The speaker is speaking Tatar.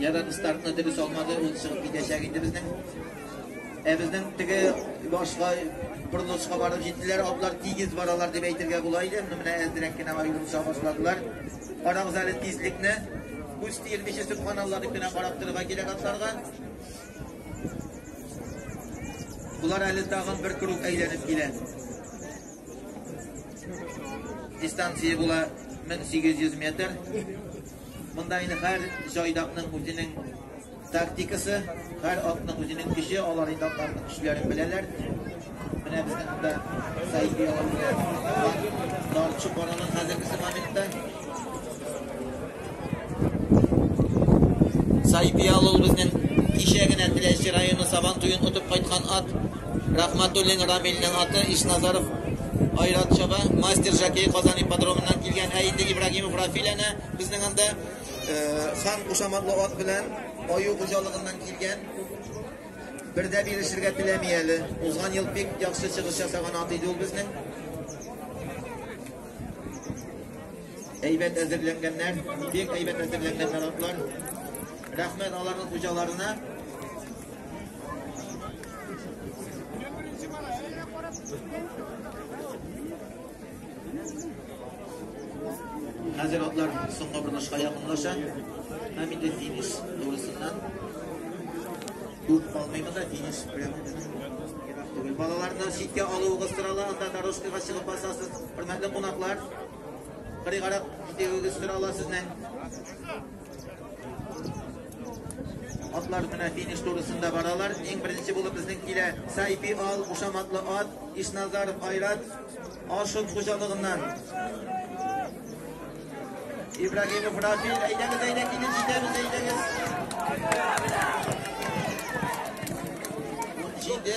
Ядан стартны дөрес алмады, ул чыгып китәчәк инде безнең. Ә безнең теге башка борылышка барып җиттеләр, атлар тигез баралар дип әйтергә була иде. Моны менә әзрәк кенә аерылыша башладылар. Карагыз әле тизлекне. Күз тиелмичә субханалла дип кенә карап торырга кирәк атларга. Булар әле тагын бер круг әйләнеп килә. Дистанция була 1800 метр. Монда инде һәр җайдакның үзенең тактикасы, һәр атның үзенең көче, алар инде атларның көчләрен беләләр. Менә безнең монда Саид Ялан белән Дарчу Борынын хәзерге моментта Сайпиал ул безнең кичә генә Теләче районы Сабан туен отып кайткан ат. Рахматуллин Рамилнең аты Ишназаров Айрат Чаба, мастер Жакей Казан ипподромыннан килгән. Ә инде Ибрагимов Рафил әнә безнең анда э, хан кушаматлы ат белән аю хуҗалыгыннан килгән. Бердә бирешергә теләми әле. Узган ел бик яхшы чыгыш ясаган ат иде ул безнең. Әйбәт әзерләнгәннәр, бик әйбәт әзерләнгәннәр атлар. Рәхмәт аларның хуҗаларына. Хәзер атлар соңгы борнышка якынлаша. Һәм инде финиш турысыннан күп калмыймы да финиш белән Балаларны читкә алуыгыз сорала, анда дорожкага чыгып басасыз. Хөрмәтле кунаклар, Кырый карак итегегез сорала сезнең. Атлар менә финиш турысында баралар. Иң беренче булып безнең килә Сайпи Ал, Ушаматлы ат, Ишназаров Айрат, Ашын хуҗалыгыннан. Ибрагимов Рафил, әйдәгез, әйдәгез, килеп җитәбез, әйдәгез. Җиде